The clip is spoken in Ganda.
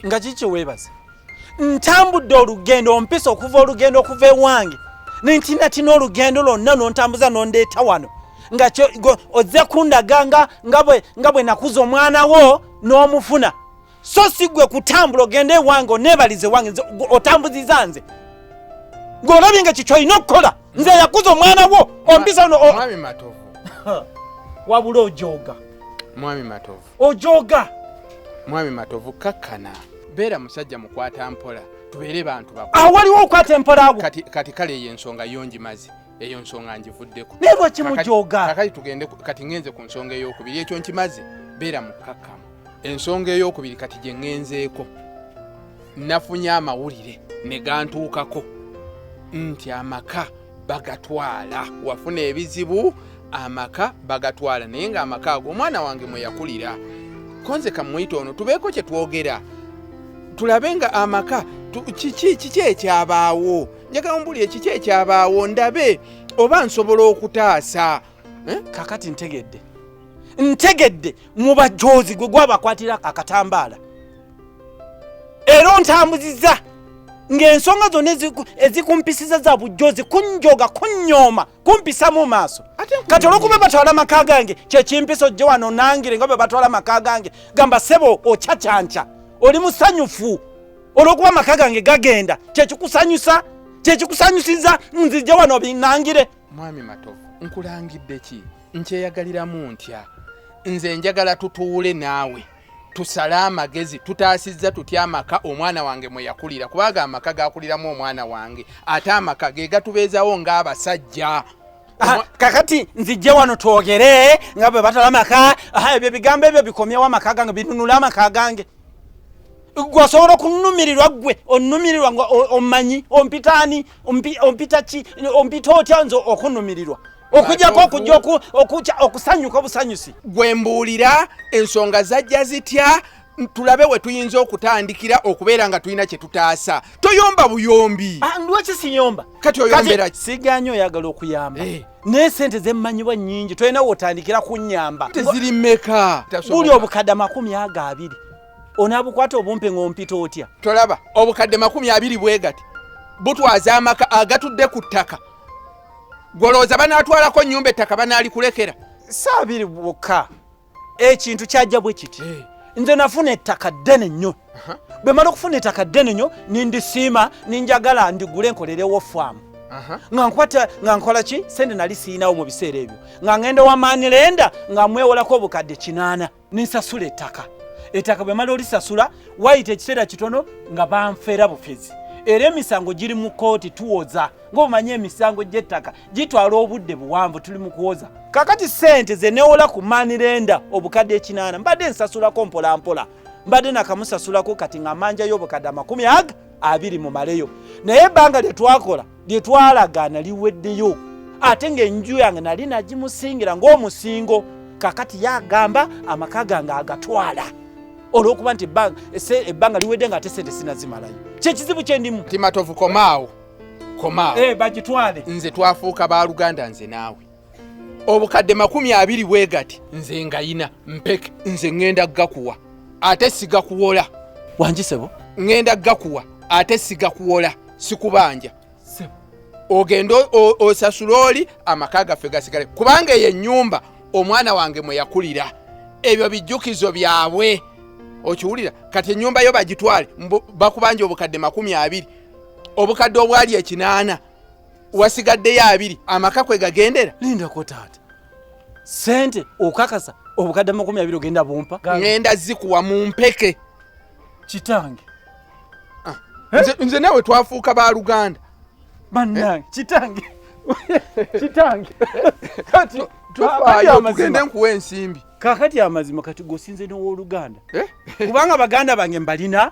nga kiki kyeweebaza ntambudde olugendo ompisa okuva olugendo okuva ewange nentinatina olugendo lwonna nontambuza nondeeta wano nga ozze kundaga nga bwe nakuza omwana wo n'omufuna so si gwe kutambula ogende ewange onebalize wange otambuziza nze ng'olabye nga kikyo olina okukola nze yakuza omwana wo ompisa wabula ojooga mwami matovu ojooga mwami matovu kakkana beera musajja mukwata mpola tubeere bantu bak awo waliwo okukwata empola awo kati kale eyo ensonga yo ngimazi eyo nsonga ngivuddeko naye lwaki mujooga kakati tugende kati ŋenze ku nsonga eyokubiri ekyo nkimazi beera mukkakkamu ensonga eyokubiri kati gye ŋenzeeko nafunye amawulire ne gantuukako nti amaka bagatwala wafuna ebizibu amaka bagatwala naye nga amaka ago omwana wange mweyakulira konze kamwita ono tubeeko kyetwogera tulabe nga amaka kiki ekyabaawo njagala ombulire kiki ekyabaawo ndabe oba nsobola okutaasa eh? kakati ntegedde ntegedde mubajoozi gwe gwabakwatira akatambaala era ontambuziza ng'ensonga zonna ezikumpisiza za bujjozi kunjoga kunnyooma kumpisa mu maaso kati olwokuba batwala amaka gange kyekimpisa ojje wano nangire nga bwe batwala amaka gange gamba sebo ocacanca oli musanyufu olwokuba amaka gange gagenda kyekikusanyusa kyekikusanyusiza nzijja wano binangire mwami matovu nkulangidde ki nkyeyagaliramu ntya nze njagala tutuule naawe tusale amagezi tutaasizza tutya amaka omwana wange mwe yakulira kubanga amaka gakuliramu omwana wange ate amaka ge gatubeezawo ng'abasajja ah, kakati nzijje wano twogere nga bwe batala amaka ah, ebyo ebigambo ebyo bikomyewo amaka gange binunula amaka gange gwe osobola okunumirirwa gwe onumirirwa nga omanyi ompitaani ompita ki ompita otya nze okunumirirwa okujako okujja okukya okusanyuka obusanyusi gwe mbuulira ensonga zajja zitya tulabe we tuyinza okutandikira okubeera nga tulina kye tutaasa toyomba buyombi ah, lwaki siyomba kati oyombera sigaanyi oyagala okuyamba eh. naye sente zemmanyibwa nyingi tolina wotandikira kunyamba teziri meka buli obukadde makumi ago abiri onaabukwata obumpe ng'ompita otya tolaba obukadde makumi abiri bwegati butwaza amaka agatudde ku ttaka gwolowooza banaatwalako nnyumba ettaka banaalikulekera saa biri bwokka ekintu kyajja bwe kiti eh. nze nafuna ettaka ddene nnyo bwe mala okufuna ettaka ddene nnyo nindisiima ninjagala ndigule nkolerewo faamu nga nkwata nga nkola ki sente nali siyinawo mu biseera ebyo nga ngenda wamaani lenda nga mwewolako obukadde kinaana ninsasula ettaka ettaka bwe mala olisasula wayita ekiseera kitono nga banfeera bufezi era emisango giri mu kkooti tuwoza ng'omanyi emisango gy'ettaka gitwala obudde buwanvu tuli mu kuwoza kakati ssente ze newola ku manirenda obukadde ekinaana mbadde nsasulako mpolampola mbadde nakamusasulako kati nga manjayo obukadde amakumi aga abiri mu maleyo naye ebbanga lye twakola lye twalagaana liweddeyo ate ng'enju yange nali nagimusingira ng'omusingo kakati yagamba amaka gange agatwala olwokuba nti ebbanga liwedde nga ate sente sinazimalayo kyekizibu kyendimu timatovu komaawo komaawo eh, bagitwale nze twafuuka baluganda nze naawe obukadde makumi abiri bwegati nze ngayina mpeke nze ŋenda gakuwa ate sigakuwola wanjisebo ŋenda gakuwa ate sigakuwola sikubanja ogende osasula oli amaka gaffe gasigale kubanga eyo enyumba omwana wange mweyakulira ebyo bijjukizo byabwe okiwulira kati enyumba yo bagitwale bakubanja obukadde makumi abiri obukadde obwali ekinaana wasigaddeyo abiri amaka kwe gagendera lindako taata sente okakasa obukadde amakumi abiri ogenda bumpa ngenda zikuwa mu mpeke kitange ah, nze nawe twafuuka ba luganda banange kitange kitange kati tufaayo tugende nkuwa ensimbi kakati amazima kati gosinze nowoluganda eh? kubanga baganda bange mbalina